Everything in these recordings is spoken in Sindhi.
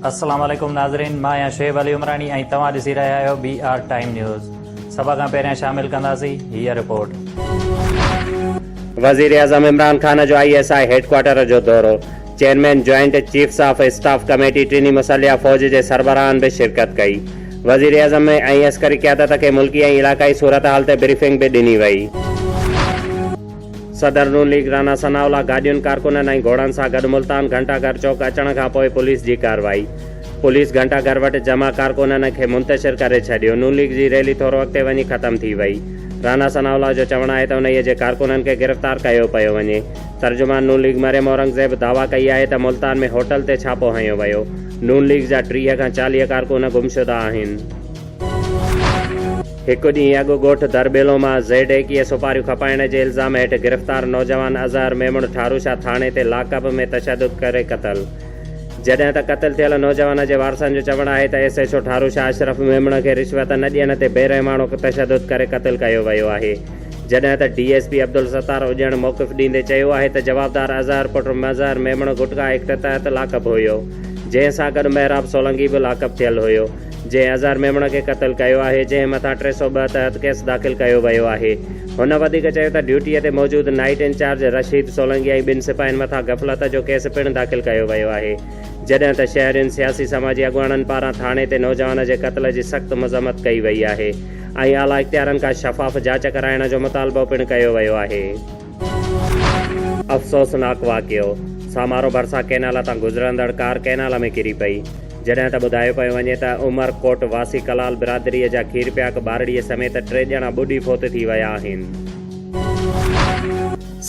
السلام عليڪم ناظرين مان آهيان شعيب علي عمراڻي ۽ توهان ڏسي رهيا آهيو بي آر ٽائيم نيوز سڀ کان پهريان شامل ڪنداسين هيء رپورٽ. وزيراعظم عمران خان جو آء ايس آء هيڊڪوارٽر جو دورو chairman joint chiefs of staff committee ٽنهي مسلح فوج جي سربراهن به شرڪت ڪئي. وزيراعظم ۽ عسڪري قيادت کي ملڪي ۽ علاقائي صورتحال تي بريفنگ به ڏني وئي. صدر نون ليگ رانا ثناء الله گاڏين، ڪارڪنن ۽ گهوڙن سان گڏ ملتان گهنٽا گهر چوڪ اچڻ کان پوء پوليس جي ڪارروائي، پوليس گهنٽا گهر وٽ جمع ڪارڪنن کي منتشر ڪري ڇڏيو، نون ليگ جي ريلي ٿورو اڳتي وڃي ختم ٿي وئي، رانا ثناء الله جو چوڻ آهي ته انهيء جي ڪارڪنن کي گرفتار ڪيو پيو وڃي. ترجمان نون ليگ مريم اورنگزيب دعويٰ ڪئي آهي ته ملتان ۾ هوٽل تي ڇاپو هنيو ويو، نون ليگ جا ٽيهه کان چاليهه ڪارڪن گمشده آهن. هڪ ڏينهن اڳ ڳوٺ درٻيلو مان زيڊ ايڪيهه سپاريون کپائڻ جي الزام هيٺ گرفتار نوجوان اظهر ميمڻ ٺاروشاه ٿاڻي تي لاڪ اپ ۾ تشدد ڪري قتل، جڏهن ته قتل ٿيل نوجوان جي وارثن جو چوڻ آهي ته S H O Tharushah Ashraf Memon کي رشوت نه ڏيڻ تي بي رحماڻو تشدد ڪري قتل ڪيو ويو آهي. جڏهن ته ڊي ايس پي عبدالستار اڄڻ موقف ڏيندي چيو آهي ته جوابدار اظهر پٽ مظهر ميمڻ گٽڪا ايڪٽ تحت لاڪپ هيو جنهن سان گڏ محراب سولنگي به لاڪپ ٿيل هيو جنهن اظهر ميمڻ کي قتل ڪيو آهي جنهن مٿان ٽي سؤ ٻه تحت ڪيس داخل ڪيو ويو آهي هن وڌيڪ چيو ته ڊيوٽي تي موجود نائيٽ انچارج رشيد سولنگي ۽ ٻن سپاهين مٿان غفلت جو ڪيس پڻ داخل ڪيو ويو آهي جڏهن ته شهرين سياسي سماجي اڳواڻن پاران ٿاڻي تي نوجوان جي قتل جي سخت مذمت ڪئي وئي آهي. ۽ اعليٰ اختيارن کان شفاف جاچ ڪرائڻ جو مطالبو پڻ ڪيو ويو آهي. افسوسناڪ واقعو، سامارو ڀرسان ڪئنال تان گذرندڙ ڪار ڪئنال ۾ ڪري پئي، جڏهن ته ٻڌايو پيو وڃي ته عمر ڪوٽ واسي ڪلال برادري جا کيرپياڪ ٻارڙي سميت ٽي ڄڻا ٻڏي فوت ٿي ويا آهن.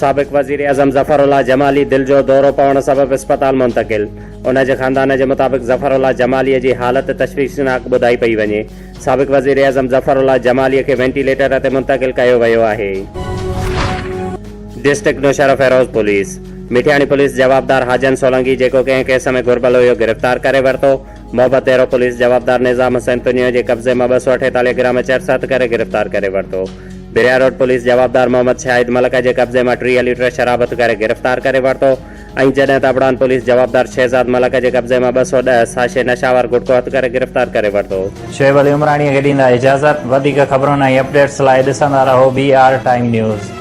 سابق وزيراعظم ظفر الله جمالي دل جو دورو پوڻ سبب اسپتال منتقل، ان جي خاندان جي مطابق ظفر الله جمالي جي حالت تشويشناڪ ٻڌائي پئي وڃي، سابق وزيراعظم ظفر الله جمالي کي وينٽيليٽر تي منتقل ڪيو ويو آهي. District Naushahro Feroze police Mithiani police جوابدار حاجن سولنگي جيڪو ڪنهن ڪيس ۾ گهربل هيو گرفتار ڪري ورتو، محبت ديرو پوليس جوابدار نظام حسين تنيو جي قبضي مان ٻه سؤ اٺيتاليهه گرام چرس هٿ ڪري گرفتار ڪري ورتو، بريا روڊ پوليس جوابدار محمد شاهد ملڪ جي قبضي مان ٽيهه ليٽر شراب هٿ ڪري گرفتار ڪري ورتو، ۽ جڏهن ته ابڙان پوليس جوابدار شهزاد ملڪ جي قبضي مان ٻه سؤ ڏهه ساشي نشه آور گٽڪو هٿ ڪري گرفتار ڪري ورتو. شعيب علي عمراڻيء کي ڏيندا اجازت. وڌيڪ خبرن ۽ اپڊيٽس لاء ڏسندا رهو بي آر ٽائيم نيوز.